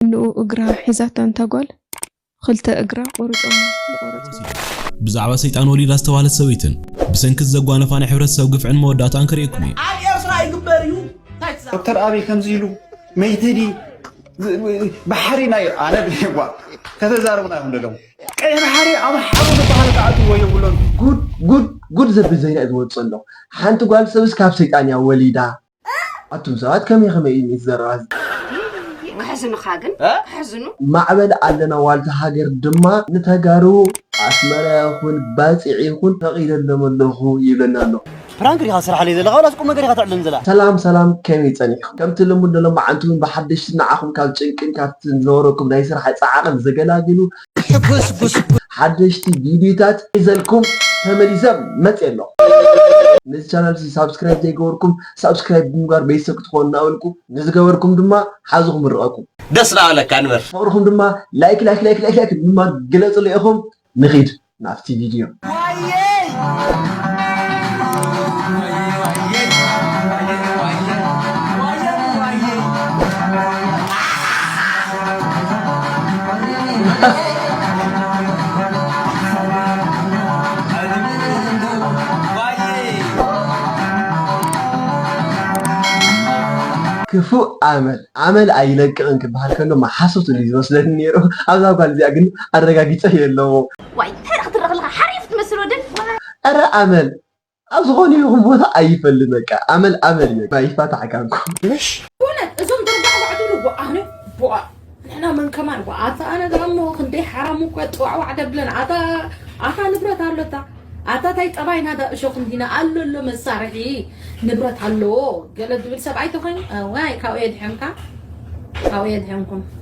ንኡ እግራ ሒዛታ ንታ ጓል ኽልተ እግራ ቆሪጾማ ዝቆረጽዎ። ብዛዕባ ሰይጣን ወሊዳ ዝተባህለት ሰበይትን ብሰንኪ እዚ ዘጓነፋ ናይ ሕብረተሰብ ግፍዕን መወዳእታኣን ከርእየኩም እየ። ኣብ ኤርትራ ይግበር እዩ እንታይ ትዛረብ። ዶክተር ኣብይ ከምዚ ኢሉ መይተ ድዪ ባሕሪና ኢሉ ኣነ ብሄጓ ከተዛርቡና ኢኹም ደለኹም ቀይሕ ባሕሪ ኣምሓሩ ዝበሃሉ ክኣትውዎ የብሎምን። ጉድ ጉድ ጉድ ዘብል ዜና እዩ ዝወጽእ ዘሎ ሓንቲ ጓል ሰብስ ካብ ሰይጣን እያ ወሊዳ። ኣቱም ሰባት ከመይ ከመይ እዩ እቲ ዘረባ እዚ። ይይይይ ከሕዝኑኻ ግን ከሕዝኑ። ማዕበል ኣለና ዋልታ ሃገር ድማ ንተጋሩ ኣስመራ ይኹን ባጽዕ ይኹን ፈቂደሎም ኣለኹ ይብለና ኣሎ። ፕራንክ ዲኻ ትሰርሓለይ ዘለኻ ወላስ ቁምነገር ኢኻ ተዕልለኒ ዘላ። ሰላም ሰላም ከመይ ጸኒሕኩም ከምቲ ልሙድ ንሎማዓንቲ ውን ብሓደሽቲ ንዓኹም ካብ ጭንቅን ካብቲ ዝነበረኩም ናይ ስራሕ ጻዕቕን ዘገላግሉ ሕጉስ ጉስ ጉስ። ሓደሽቲ ቪድዩታት ሒዘልኩም ተመሊሰ መፅየ ኣለኹ። ነዚ ቻናል እዚ ሳብስክራይብ ዘይገበርኩም ሳብስክራይብ ብምግባር ቤተሰብ ክትኾኑ እናበልኩ ንዝገበርኩም ድማ ሓዙ ክምርቐኩም። ደስ እናበለካ ንበር። ፍቕርኹም ድማ ላይክ ላይክ ላይክ ላይክ ላይክ ብምግባር ግለፅለይ ኢኹም። ንኺድ ናብቲ ቪድዮ። ክፉእ ኣመል ኣመል ኣይለቅቕን ክበሃል ከሎ መሓሶት እዩ ዝመስለኒ ነይሩ። ኣብዛ ጓል እዚኣ ግን ኣረጋጊፀዮ ኣለኹ። ዋይ እንታይ ክትርኽ ኣለኻ ሓሪፍ ትመስል ወዲ ኣረ ኣመል ኣብ ዝኾነ ይኹን ቦታ ኣይፈልን በቃ ኣመል ኣመል እዩ በቃ ይፋታሕ ካንኩ። ኩነት እዞም ደርባዕ ዋዕ ትብሉ ወኣነ ቦኣ ንሕና መን ከማን እኮ ኣታ ኣነ ደኣ እሞ ክንደይ ሓራሙ እኮ ጥዋዕዋዕ ደብለን ኣታ ኣታ ንብረት ኣሎታ ኣታ ታይ ጠባይና ዳ እሾክ እንዲና ኣሎ ኣሎ መሳርሒ ንብረት ኣለዎ ገለ ዝብል ሰብኣይ ተኮይኑ ዋይ ካብኡ የድሕንካ ካብኡ የድሕንኩም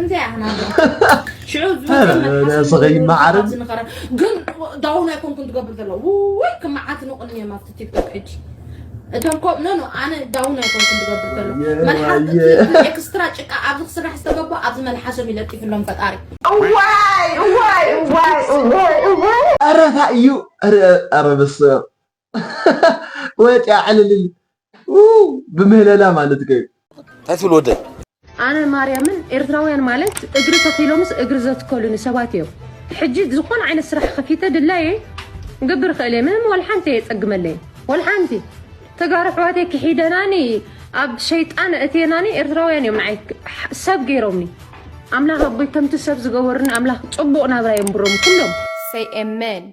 እንታይ ኣህና ሽዑ ስኸይ መዓርን ዝንኸረ ግን ዳውን ኣይኮንኩን ትገብር ዘሎ ውይ ክመዓት ንቕኒ እዮም ኣብቲ ቲክቶክ ሕጂ እቶም ኮ ኖ ኖ ኣነ ዳውን ኣይኮንኩን ትገብር ዘሎ መልሓስ ኤክስትራ ጭቃ ኣብዚ ክስራሕ ዝተገባ ኣብዚ መልሓሶም ይለጢፍሎም ፈጣሪ እዋይ እዋይ እዋይ እዋይ እዋይ ኧረ እንታይ እዩ ኧረ በስመ ወጽያ ዕልልል ኡው ብምህለላ ማለት ከዩ እንታይ ትብል ወደይ ኣነ ማርያምን ኤርትራውያን ማለት እግሪ ተኺሎምስ እግሪ ዘትከሉኒ ሰባት እዮም ሕጂ ዝኾነ ዓይነት ስራሕ ከፊተ ድላየ ገብር ክእል እየ ምንም ወልሓንቲ የጸግመለይ ወልሓንቲ ተጋሩ ኣሕዋተይ ክሒደናኒ ኣብ ሸይጣን እቴናኒ ኤርትራውያን እዮም ንዓይ ሰብ ገይሮምኒ ኣምላኽ ኣቦይ ከምቲ ሰብ ዝገበሩኒ ኣምላኽ ጽቡቕ ናብራ የንብሮም ኩሎም Say amen.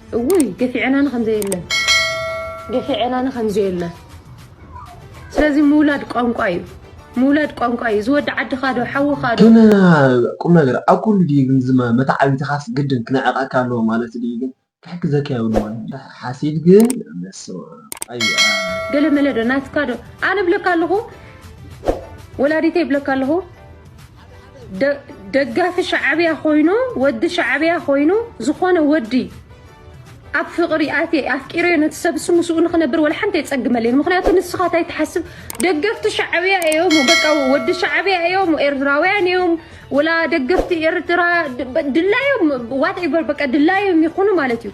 እውይ ገፊዐናኒ ከምዘየለ ገፊዐናኒ ከምዘየለ ስለዚ ምውላድ ቋንቋ እዩ ምውላድ ቋንቋ እዩ ዝወዲ ዓድኻ ዶ ሓውኻ ዶ ግን ቁም ነገር ኣብ ኩሉ ድዩ ግን ዝመ መተዓቢትኻስ ግድን ክነዕቀካ ኣለዎ ማለት ድዩ ግን ክሕግዘካ የብልዎን ድዩ ሓሲድ ግን በስመኣብ ኣየ ገለመለ ዶ ናትካ ዶ ኣነ እብለካ ኣለኹ ወላዲተይ እብለካ ኣለኹ ደጋፊ ሻዕብያ ኮይኑ ወዲ ሻዕብያ ኮይኑ ዝኾነ ወዲ ኣብ ፍቕሪ ኣትየ ኣፍቂረዮ ነቲ ሰብ እሱ ምስኡ ንክነብር ወላ ሓንቲ የፀግመለይ ምክንያቱ ንስኻ እንታይ ትሓስብ ደገፍቲ ሻዕብያ እዮም በቃ ወዲ ሻዕብያ እዮም ኤርትራውያን እዮም ወላ ደገፍቲ ኤርትራ ድላዮም ዋትኤቨር በቃ ድላዮም ይኹኑ ማለት እዩ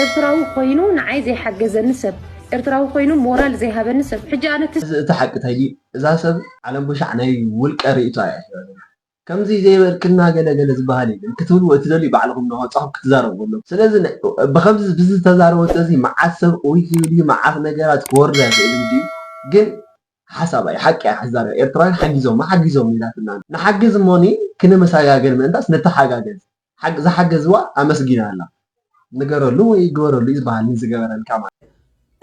ኤርትራዊ ኮይኑ ንዓይ ዘይሓገዘኒ ሰብ ኤርትራዊ ኮይኑ ሞራል ዘይሃበኒ ሰብ ሕጂ ኣነ ትስ። እዚ እቲ ሓቂ ተዲ እዛ ሰብ ዓለም ቦሻዕ ናይ ውልቀ ሪኢቶኣ እያ ሒዛ ዘላ ከምዚ ዘይበልክና ገለ ገለ ዝባሃል የለን ክትብልዎ እትደልዩ ባዕልኹም ናወጻኹም ክትዛረብዎ ኣለኩም ስለዚ ብከምዚ ብዚ ዝተዛረበቶ እዚ ማዓት ሰብ ኡይ ክብል እዩ ማዓት ነገራት ክወርዳ ይኽእል እንድዩ ግን ሓሳባ እዩ ሓቂ እያ ክትዛረብ ኤርትራውያን ሓጊዞማ ሓጊዞም ኢላትና ንሓግዝ እሞኒ ክንመሳጋገር ምእንታስ ንተሓጋገዝ ዝሓገዝዋ ኣመስጊና ኣላ ንገረሉ ወይ ግበረሉ እዩ ዝበሃል ንዝገበረልካ ማለት እዩ።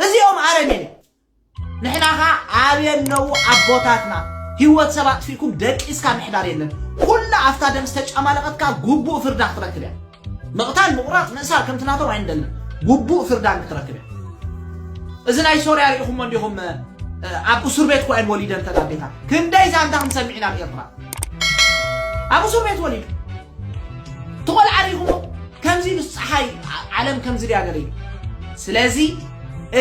እዚኦም ኣረሜን እዮም ንሕና ከኣ ኣበይ ኣለዉ ኣቦታትና ሂወት ሰብ ኣጥፊእኩም ደቂስካ ምሕዳር የለን ኩላ ኣፍታ ደም ዝተጫማለቀት ከኣ ጉቡእ ፍርዳ ክትረክብ እያ ምቅታል ምቁራጽ ምእሳር ከምቲ ናቶም ኣይንደልን ጉቡእ ፍርዳ ንክትረክብ እያ እዚ ናይ ሶርያ ሪኢኹሞ እንዲኹም ኣብ እሱር ቤት እኮ እየን ወሊደን ተጋዴታት ክንደይ ዛንታ ክንሰሚዕ ኢና ኣብ ኤርትራ ኣብ እሱር ቤት ወሊዱ ትቆልዓ ሪኹሞ ከምዚ ምስ ፀሓይ ዓለም ከምዚ ድያ ገለ እዩ ስለዚ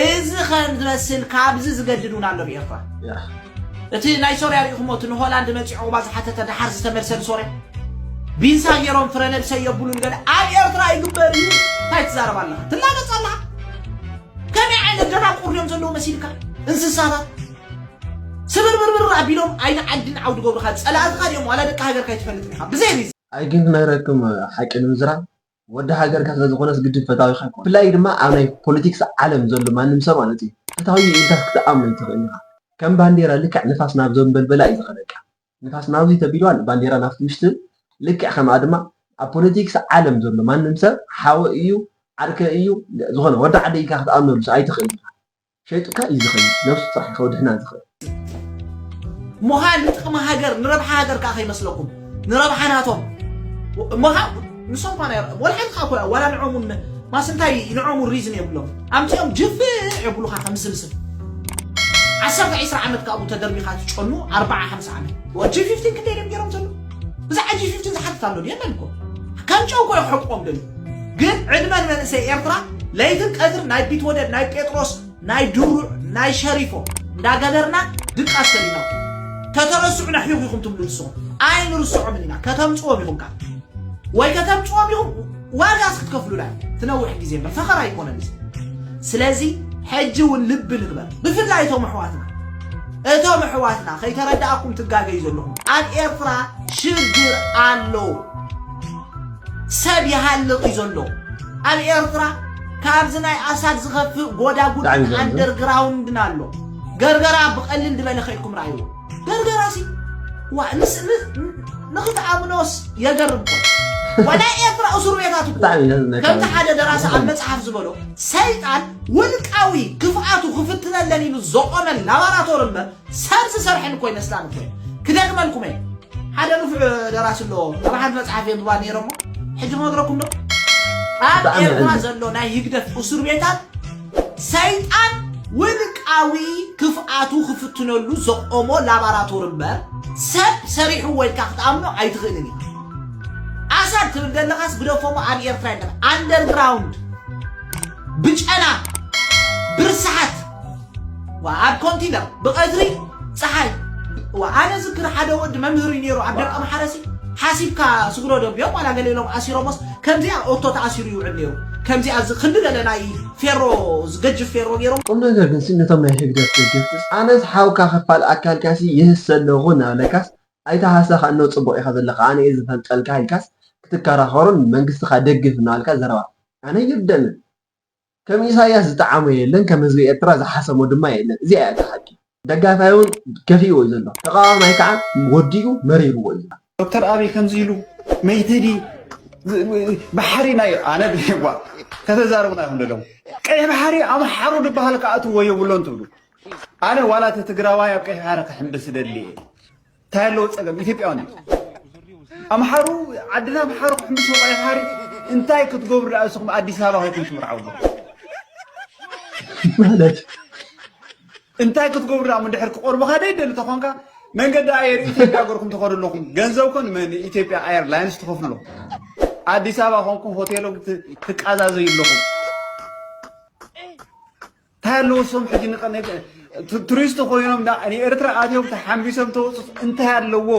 እዚ ከም ዝመስል ካብዚ ዝገድድ እውን ኣሎ ብኤርትራ እቲ ናይ ሶርያ ሪኢኹሞ እቲ ንሆላንድ መፂ ዑቕባ ዝሓተተ ድሓር ዝተመልሰን ሶርያ ቢንሳ ገይሮም ፍረ ነብሰ የብሉን ገለ ኣብ ኤርትራ ይግበር እዩ እንታይ ትዛረብ ኣለኻ ትላገፅ ኣለኻ ከመይ ዓይነት ደናቁር እዮም ዘለዉ መሲልካ እንስሳታት ስብርብርብር ኣቢሎም ኣይተ ዓድን ዓው ድገብሩኻ ጸላእትኻ ድዮም ዋላ ደቂ ሃገርካ ኣይትፈልጥን ኢኻ ብዘይ ሪዝን። ኣይግን ክነግረክም ሓቂ ንምዝራብ ወዲ ሃገርካ ስለ ዝኾነስ ግድን ፈታዊኻ ኣይኮነን ብፍላይ ድማ ኣብ ናይ ፖለቲክስ ዓለም ዘሎ ማንም ሰብ ማለት እዩ ፈታዊ እዩ ኢልካስ ክትኣምኖ ኣይትኽእልን ኢኻ ከም ባንዴራ ልክዕ ንፋስ ናብ ዘንበልበላ እዩ ዝኸደካ ንፋስ ናብዚ ተቢልዋ ባንዴራ ናብቲ ምሽትብል ልክዕ ከምኣ ድማ ኣብ ፖለቲክስ ዓለም ዘሎ ማንም ሰብ ሓወይ እዩ ዓርከይ እዩ ዝኾነ ወዲ ዓደይ ኢልካ ክትኣምነሉስ ኣይትኽእልን ኢኻ ሸይጡካ እዩ ዝኸይድ ነብሱ ጥራሕ እዩ ከውድሕና ዝኽእል። ሙኻን ንጥቅሚ ሃገር ንረብሓ ሃገር ከኣ ከይመስለኩም ንረብሓ ናቶም እሞ ከኣ ንሶም ኳን ኣይ ወላ ሓንቲ ከኣ ኮያ ዋላ ንዖም እውን ማስ እንታይ ንዖም እውን ሪዝን የብሎም ኣምጺኦም ጅፍዕ የብሉኻ ከም ስልስል ዓሰርተ ዒስራ ዓመት ካብኡ ተደርቢኻ ትጨኑ ኣርብዓ ሓምሳ ዓመት ወጂ ፊፍቲን ክንደይ ድዮም ገይሮም ዘለዉ ብዛዕባ ጂ ፊፍቲን ዝሓትት ኣሎ የለን እኮ ከም ጨው እኮ ይሕቁዎም ደልዩ ግን ዕድመ ንመንእሰይ ኤርትራ ለይትን ቀትር ናይ ቢትወደድ ናይ ጴጥሮስ ናይ ድሩዕ ናይ ሸሪፎ እንዳገበርና ድቃስ ሰሊና ተተረስዑና ሒኹ ኢኹም ትብሉ ንስኹም ኣይንርስዖምን ኢና ከተምፅዎም ኢኹም ካብ ወይ ከተምፅዎም ኢኹም ዋጋስ ክትከፍሉላ እዩ ትነውሕ ግዜ እምበር ፈኸራ ኣይኮነን እዚ ስለዚ ሕጂ እውን ልቢ ንግበር ብፍላይ እቶም ኣሕዋትና እቶም ኣሕዋትና ከይተረዳእኩም ትጋገዩ ዘለኹም ኣብ ኤርትራ ሽግር ኣሎ ሰብ ይሃልቕ እዩ ዘሎ ኣብ ኤርትራ ካብዚ ናይ ኣሳድ ዝኸፍእ ጎዳጉድን ኣንደርግራውንድን ኣሎ ገርገራ ብቐሊል ድበለ ከይድኩም ረኣይዎ በርበራሲ ዋእ ንኽትኣምኖስ የገርም ኮ ወላይ ኤርትራ እሱር ቤታት እኮ ከምቲ ሓደ ደራሲ ኣብ መጽሓፍ ዝበሎ ሰይጣን ውልቃዊ ክፍኣቱ ክፍትነለን ኢሉ ዘቆመን ላባራቶሪ እምበር ሰብ ዝሰርሐን እኮ ይመስላን እኮ ክደግመልኩም እየ ሓደ ንፉዕ ደራሲ ኣሎ ኣብ ሓንቲ መጽሓፍ የንብባ ነይረ እሞ ሕጂ ክነግረኩም ዶ ኣብ ኤርትራ ዘሎ ናይ ህግደፍ እሱር ቤታት ሰይጣን ውልቃዊ ክፍኣቱ ክፍትነሉ ዘቖሞ ላባራቶሪ እምበር ሰብ ሰሪሕዎ ኢልካ ክትኣምኖ ኣይትኽእልን ኢኻ። ኣሰር ትብል ዘለኻስ ግደፎሞ ኣብ ኤርትራ የለን ኣንደርግራውንድ ብጨና ብርስሓት ዋ ኣብ ኮንቲነር ብቐትሪ ፀሓይ ዋ ኣነ ዝክር ሓደ ወዲ መምህር እዩ ነይሩ ኣብ ደቀ መሓረሲ ሓሲብካ ስግሮ ደብዮም ዋላ ገለ ኢሎም ኣሲሮሞስ ከምዚኣ ኦቶ ተኣሲሩ ይውዕል ነይሩ ከምዚኣ እዚ ክንዲ በለ ናይ ፌሮ ዝገጅፍ ፌሮ ገይሮም። ቁምነገር ግንሲ ነቶም ናይ ህግደፍ ደገፍትስ ኣነስ ሓውካ ክፋል ኣካልካሲ ይህሰ ኣለኹ እናበለካስ ኣይትሃሰኻ እኖ ጽቡቕ ኢኻ ዘለኻ ኣነ እየ ዝፈልጠልካ ኢልካስ ክትከራኸሩን መንግስትኻ ደግፍ እናበልካ ዘረባ ኣነ ይርደንን ከም ኢሳያስ ዝጠዓሞ የለን ከም ህዝቢ ኤርትራ ዝሓሰሞ ድማ የለን እዚኣ እያ እታ ሓቂ ደጋፋይ ውን ከፊእዎ እዩ ዘሎ ተቃዋማይ ከኣ ወዲኡ መሪርዎ እዩ። ዶክተር ኣብይ ከምዚ ኢሉ መይትዲ ባሕሪና እዩ ኣነ ድሌዋ ከተዛርቡና ኢኹም ደለኹም ቀይሕ ባሕሪ እዩ ኣምሓሩ ድበሃል ክኣትዎ የብሎን ትብሉ ኣነ ዋላ እቲ ትግራዋይ ኣብ ቀይሕ ባሕሪ ክሕምብስ እደሊ እየ ታይ ኣለዎ ፀገም ኢትዮጵያውያን ኣምሓሩ ዓድና ኣምሓሩ ክሕምሱ ቆይ ሓሪ እንታይ ክትገብሩ ደኣ ንስኹም ኣዲስ ኣበባ ኮይኩም ትምርዓው ማለት እንታይ ክትገብሩ ደኣ ምድሕር ክቆርብኻ ደይደሊ ተኾንካ መንገዲ ኣየር ኢትዮጵያ ገርኩም ትኸዱ ኣለኹም ገንዘብ ኮን ንኢትዮጵያ ኤርላይንስ ትኸፍሎ ኣዲስ ኣበባ ኮንኩም ሆቴሎም ትቃዛዘዩ ኣለኹም እንታይ ኣለዎ እሶም ሕጂ ቱሪስት ኮይኖም ንኤርትራ ኣትዮም ተሓምቢሶም ተወፅት እንታይ ኣለዎ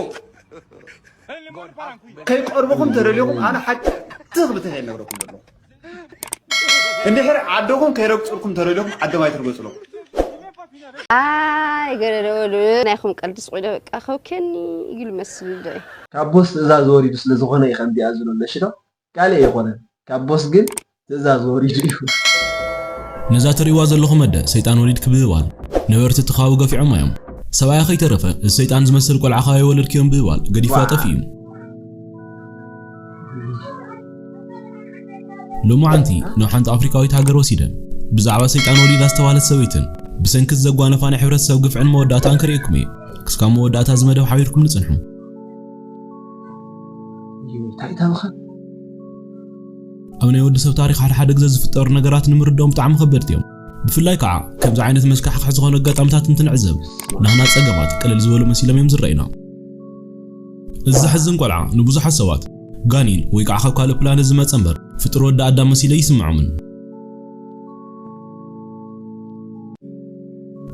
ከይቀርብኹም ተደሊኹም ኣነ ሓቂ ትኽ ብትኽ የነግረኩም ዘለኹ እንድሕር ዓድኹም ከይረግፅልኩም ተደሊኹም ዓዶም ኣይትርገፅሎም ኣይ ገለለወሉ ናይኹም ቀልዲ ስቑኢለ በቃ ከውከኒ ይግል መስል ዶ ካብ ቦስ ትእዛዝ ወሪዱ ስለ ዝኾነ እዩ ከምዚኣ ዝሎ ኣለሽዶ ካልእ ኣይኮነን ካብ ቦስ ግን ትእዛዝ ወሪዱ እዩ። ነዛ ትርእይዋ ዘለኹም ኣደ ሰይጣን ወሊድ ክብህባል ነበርቲ እቲ ከባቢ ገፊዖማ እዮም። ሰብኣያ ከይተረፈ እዚ ሰይጣን ዝመስል ቆልዓ ካበይ ወለድክዮ ምብህባል ገዲፍዋ ጠፊኡ እዩ። ሎምዓንቲ ናብ ሓንቲ ኣፍሪካዊት ሃገር ወሲደን ብዛዕባ ሰይጣን ወሊዳ ዝተባህለት ሰበይትን ብሰንኪ እዚ ዘጓነፋ ናይ ሕብረተሰብ ግፍዕን መወዳእታኣን ከርእየኩም እየ። ክስካብ መወዳእታ እዚ መደብ ሓቢርኩምኒ ጽንሑ። ኣብ ናይ ወዲ ሰብ ታሪኽ ሓደ ሓደ ግዘ ዝፍጠሩ ነገራት ንምርድኦም ብጣዕሚ ከበድቲ እዮም። ብፍላይ ከዓ ከምዚ ዓይነት መስካሕኽሒ ዝኾኑ ኣጋጣምታት እንትንዕዘብ ናህና ፀገማት ቅልል ዝበሉ መሲሎም እዮም ዝረእዩና። እዚ ዘሕዝን ቆልዓ ንብዙሓት ሰባት ጋኒን ወይ ከዓ ካብ ካልእ ፕላነት ዝመፀ እምበር ፍጡር ወዲ ኣዳም መሲሉ ኣይስመዖምን።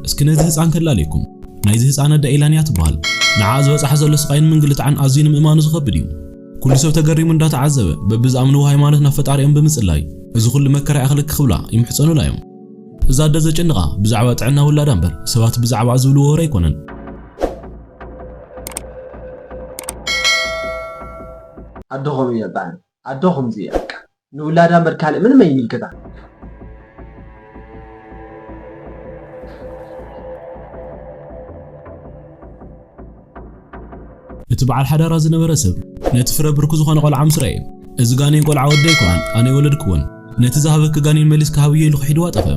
እስኪ ነዚ ህጻን ከላልየኩም። ናይዚ ህጻን ኣደ ኤላን እያ ትበሃል። ንዓኣ ዝበጽሓ ዘሎ ስቓይን ምንግልታዕን ኣዝዩ ንምእማኑ ዝኸብድ እዩ። ኩሉ ሰብ ተገሪሙ እንዳተዓዘበ በብዝኣምንዎ ሃይማኖት ናብ ፈጣሪኦም ብምጽላይ እዚ ኩሉ መከራ ይኣኽለኪ ክብላ ይምሕጸኑላ እዮም። እዛ ኣደ ዘጨንቓ ብዛዕባ ጥዕና ውላዳ እምበር ሰባት ብዛዕባኣ ዝብልዎ ወረ ኣይኮነን። ኣደኹም እየ እበሃል። ኣዶ ከምዚ እያ በቃ ንውላዳ እምበር ካልእ ምንም ኣይምልከታን። እቲ በዓል ሓዳራ ዝነበረ ሰብ ነቲ ፍረ ብርኩ ዝኾነ ቆልዓ ምስ ረኣየ እዚ ጋኔን ቆልዓ ወዲ ኣይኮነን ኣነ ኣይወለድክዎን ነቲ ዝሃበኪ ጋኔን መሊስኪ ሃብዮ ኢሉ ክሒድዋ ጠፈ።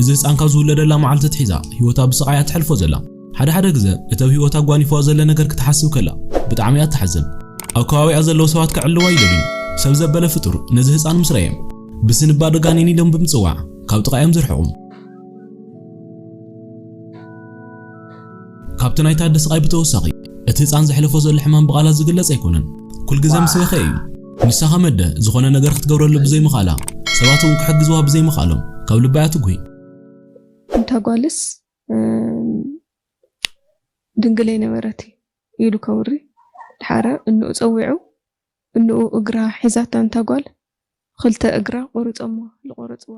እዚ ህጻን ካብ ዝውለደላ መዓልቲ ኣትሒዛ ህይወታ ብስቓይ እያ ተሕልፎ ዘላ። ሓደ ሓደ ግዘ እቲ ኣብ ህይወታ ኣጓኒፍዋ ዘሎ ነገር ክትሓስብ ከላ ብጣዕሚ እያ ትሓዝን። ኣብ ከባቢኣ ዘለዉ ሰባት ከዕልዋ ይደልዩ። ሰብ ዘበለ ፍጡር ነዚ ህጻን ምስ ረኣዮም ብስንባደ ጋኔን ኢሎም ብምጽዋዕ ካብ ጥቓ እዮም ዝርሕቑ። ካብቲ ናይ ታዲ ስቓይ ብተወሳኺ፣ እቲ ህጻን ዘሕልፎ ዘሎ ሕማም ብቓላት ዝግለጽ ኣይኮነን። ኩል ግዘ ምስ በኸየ እዩ። ንሳ ከም ኣደ ዝኾነ ነገር ክትገብረሉ ብዘይምኽኣላ፣ ሰባት እውን ክሕግዝዋ ብዘይምኽኣሎም ካብ ልባ እያ ትጉሂ። እታ ጓልስ ድንግል ኣይነበረት እዩ ኢሉ ከውሪ ድሓረ እንኡ ጸዊዑ እንኡ እግራ ሒዛታ እንታ ጓል ኽልተ እግራ ቆሩጸሞ ልቆረጽዋ።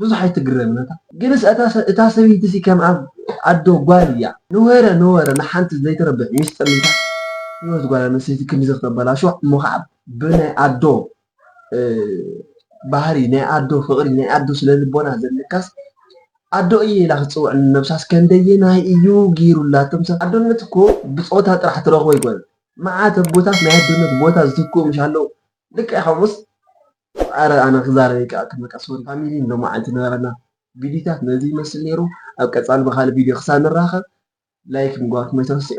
ብዙሕ ኣይትግረም ነታ። ግንስ እታ ሰበይቲሲ ከም ኣዶ ጓል እያ ንወረ ንወረ ንሓንቲ ዘይትረብሕ ሚስጥር ሒዛ ሂወት ጓል ኣንስተይቲ ክንድዚ ክተበላሹ እሞ ከዓ ብናይ ኣዶ ባህሪ ናይ ኣዶ ፍቅሪ ናይ ኣዶ ስለልቦና ዘለካስ ኣዶ እየ ኢላ ክትፅውዕ ንነብሳስ ከንደየናይ እዩ ገይሩላ ኣቱም ሰባት ኣዶነት እኮ ብፆታ ጥራሕ ትረክቦ ኣይኮነን መዓት ኣቦታት ናይ ኣዶነት ቦታ ዝትክኡ ምሽ ኣለው ልክዕ ከምኡስ ኣረ ኣነ ክዛረብ ኣይከኣልኩን በቃ ሶሪ ፋሚሊ ሎማዓንቲ ዝነበረና ቪድዩታት ነዚ ይመስል ነይሩ ኣብ ቀፃሊ ብካልእ ቪድዮ ክሳብ ንራከብ ላይክ ምግባርኩም ኣይትረስዑ።